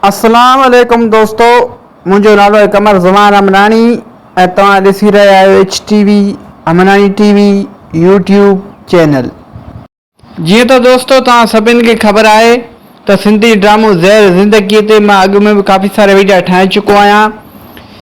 اسلام عليڪم دوستو منهنجو نالو آهي قمر زمان امناڻي ۽ توهان ڏسي رهيا آهيو H T V Amnani T V YouTube channel. جيئن ته دوستو توهان سڀني کي خبر آهي ته سنڌي ڊرامو زهر زندگي تي مان اڳ ۾ به ڪافي سارا ويڊيا ٺاهي چڪو آهيان.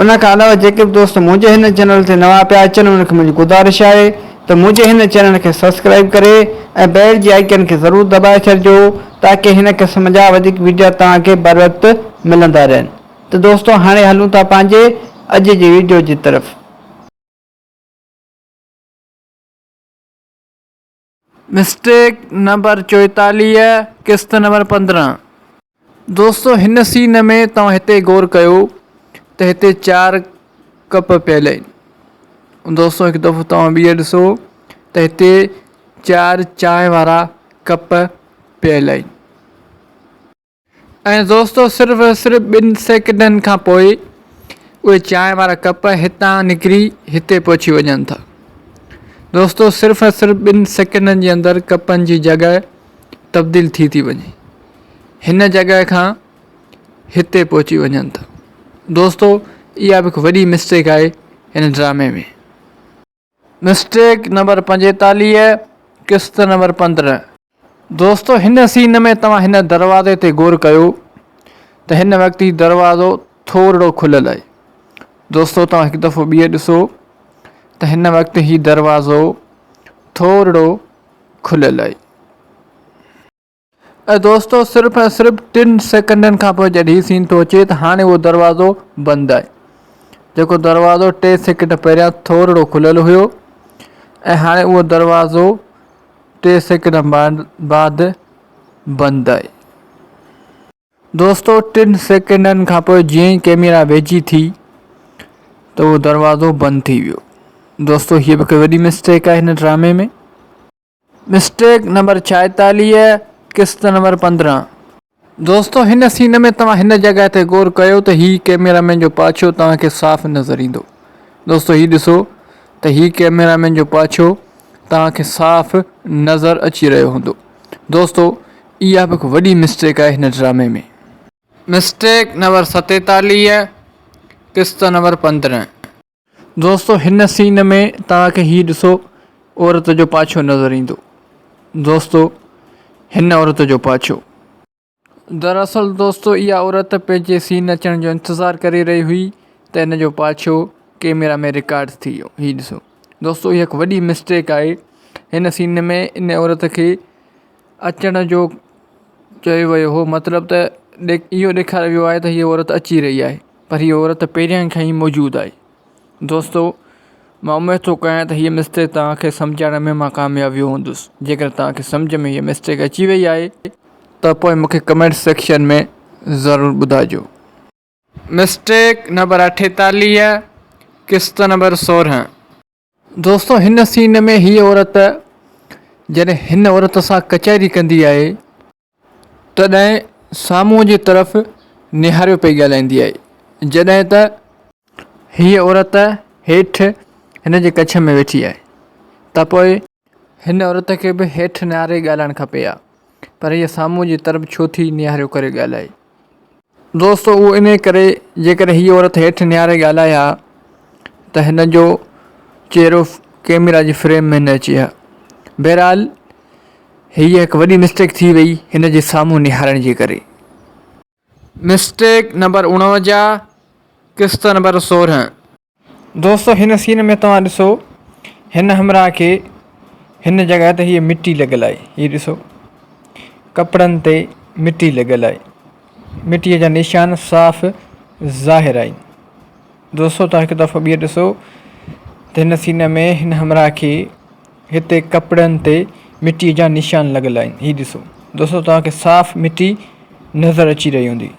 ان کان علاوه جيڪي به دوست منهنجي هن چينل تي نوان پيا اچن انهن کي منهنجي گذارش آهي ته منهنجي هن چينل کي سبسڪرائيب ڪري ۽ بيل جي آئيڪن کي ضرور دٻائي ڇڏجو تاڪه هن قسم جا وڌيڪ ويڊيا توهان کي بروقت ملندا رهن ته دوستو هاڻي هلون ٿا پنهنجي اڄ جي ويڊيو جي طرف. مسٽيڪ نمبر چوئيتاليهه قسط نمبر پندرهن دوستو هن سين ۾ توهان هتي غور ڪيو ته هتي چار ڪپ پيل آهن دوستو هڪ دفعو توهان ٻيهر ڏسو ته هتي چار چانهه وارا ڪپ پيل آهن ۽ دوستو صرف ۽ صرف ٻن سيڪنڊن کان پوء اهي چانهه وارا ڪپ هتان نڪري هتي پهچي وڃن ٿا. دوستو صرف ۽ صرف ٻن سيڪنڊن جي اندر ڪپن جي جڳهه تبديل ٿي ٿي وڃي هن جڳهه کان هتي پهچي وڃن ٿا. دوستو اها به هڪ وڏي مسٽيڪ آهي هن ڊرامي ۾. مسٽيڪ نمبر پنجيتاليهه قسط نمبر پندرهن. دوستو هن سين ۾ توهان هن دروازي تي غور ڪيو ته هن وقت هي دروازو ٿورڙو کليل آهي دوستو توهان هڪ دفعو ٻيهر ڏسو ته هن وقت هي دروازو ٿورڙو کليل آهي اي دوستو صرف ۽ صرف ٽن سيڪنڊن کان پوء جڏھن ھي سين ٿو اچي ته ھاڻي اھو دروازو بند آھي جيڪو دروازو ٽي سيڪنڊ پھريان ٿورڙو کليل ھيو ۽ ھاڻي اھو دروازو ٽي سيڪنڊ بعد بند آھي دوستو ٽن سيڪنڊن کان پوء جيئن ئي ڪيميرا ويجھي ٿي ته اھو دروازو بند ٿي ويو دوستو ھيء به ھڪ وڏي مسٽيڪ آھي ھن ڊرامي ۾. مسٽيڪ نمبر ڇائيتاليهه قسط نمبر پندرهن. دوستو هن سين ۾ توهان هن جڳهه تي غور ڪيو ته هي ڪيميرا مين جو پاڇو توهان کي صاف نظر ايندو دوستو هي ڏسو ته هي ڪيميرا مين جو پاڇو توهان کي صاف نظر اچي رهيو هوندو دوستو اها به هڪ وڏي مسٽيڪ آهي هن ڊرامي ۾. مسٽيڪ نمبر ستيتاليهه قسط نمبر پندرهن. دوستو هن سين ۾ توهان کي هي ڏسو عورت جو پاڇو نظر ايندو دوستو هن عورت جو پاڇو. دراصل دوستو اها عورت پنهنجي سين اچڻ جو انتظار ڪري رهي هئي ته ان جو پاڇو ڪيميرا ۾ رڪارڊ ٿي ويو هي ڏسو دوستو هي هڪ وڏي مسٽيڪ آهي هن سين ۾ ان عورت کي اچڻ جو چيو ويو هو مطلب ته اهو ڏيکاريو ويو آهي ته هي عورت اچي رهي آهي. پر هيء عورت پهريائين کان ئي موجود آهي. دوستو! مان اميد ٿو ڪريان ته هيء مسٽيڪ توهان کي سمجهائڻ ۾ مان ڪامياب ويو هوندس. جيڪڏهن توهان کي سمجهه ۾ هيء مسٽيڪ اچي وئي آهي ته پوء مون کي ڪمينٽ سيڪشن ۾ ضرور ٻڌائجو. مسٽيڪ نمبر اٺيتاليهه قسط نمبر سورهن. دوستو هن سين ۾ هي عورت جڏهن هن عورت سان ڪچهري ڪندي آهي تڏهن سامهون جي طرف نهاريو پئي ڳالهائيندي آهي جڏهن ته هيء عورت هيٺ هن جي ڪڇ ۾ ويٺي آهي ته پوء هن عورت کي به هيٺ نهاري ڳالهائڻ کپي ها پر هيء سامهون جي طرف ڇو ٿي نهاريو ڪري ڳالهائي؟ دوستو اهو انهيء ڪري جيڪڏهن هيء عورت هيٺ نهاري ڳالهائي ها ته هن جو چهرو ڪئميرا جي فريم ۾ نه اچي ها. بهرحال هيء هڪ وڏي مسٽيڪ ٿي وئي هن جي سامهون نهارڻ جي ڪري. مسٽيڪ نمبر اڻونجاهه قسط نمبر سورهن. دوستو هن سين ۾ توهان ڏسو هن همراهه کي هن جڳهه تي هيء مٽي لڳل آهي هي ڏسو ڪپڙن تي مٽي لڳل آهي مٽي جا نشان صاف ظاهر آهن دوستو توهان هڪ دفعو ٻيهر ڏسو ته هن سين ۾ هن همراهه کي هتي ڪپڙن تي مٽيء جا نشان لڳل آهن. هي ڏسو. دوستو توهان کي صاف مٽي نظر اچي رهي هوندي.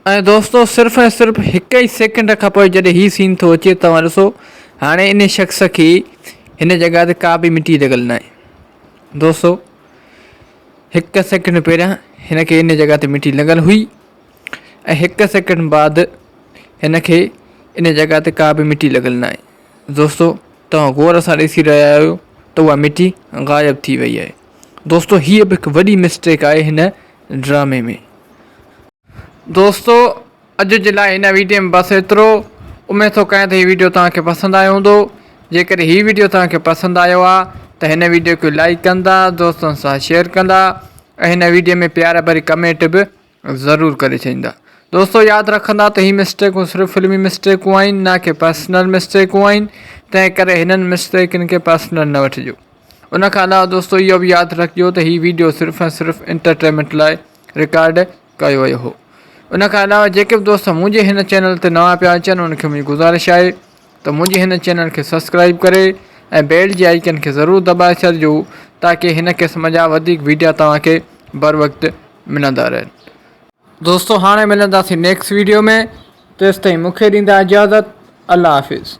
۽ دوستو صرف ۽ صرف هڪ ئي سيڪنڊ کان پوء جڏهن هي سين ٿو اچي توهان ڏسو هاڻي انهي شخص کي هن جڳهه تي ڪا به مٽي لڳل ناهي. دوستو هڪ سيڪنڊ پهريان هن کي انهي جڳهه تي مٽي لڳل هئي ۽ هڪ سيڪنڊ بعد هن کي انهي جڳهه تي ڪا به مٽي لڳل ناهي. دوستو توهان غور سان ڏسي رهيا آهيو ته اها مٽي غائب ٿي وئي آهي دوستو هيء به هڪ وڏي مسٽيڪ آهي هن ڊرامي ۾ دوستو اڄ جي لاء هن ويڊيو ۾ بس ايترو اميد ٿو ڪيان ته هي ويڊيو توهان کي پسند آيو هوندو جيڪڏهن هي ويڊيو توهان کي پسند آيو آهي ته هن ويڊيو کي لائڪ ڪندا دوستن سان شيئر ڪندا ۽ هن ويڊيو ۾ پيار ڀري ڪمينٽ به ضرور ڪري ڇڏيندا. دوستو ياد رکندا ته هي مسٽيڪون صرف فلمي مسٽيڪون آهن نه ڪي پرسنل مسٽيڪون آهن تنهن ڪري هنن مسٽيڪن کي پرسنل نه وٺجو ان کان علاوه دوستو اهو به ياد رکجو ته هي ويڊيو صرف ۽ صرف انٽرٽينمينٽ لاء رڪارڊ ڪيو ويو هو ان کان علاوه جيڪي به دوست منهنجي هن چينل تي نوان پيا اچن ان کي منهنجي گذارش آهي ته منهنجي هن چينل کي سبسڪرائيب ڪري ۽ بيل جي آئيڪن کي ضرور دٻائي ڇڏجو تاڪي هن قسم جا وڌيڪ ويڊيا توهان کي بروقت ملندا رهن دوستو هاڻي ملنداسين نيڪس ويڊيو ۾ تيستائين مون کي ڏيندا اجازت الله حافظ.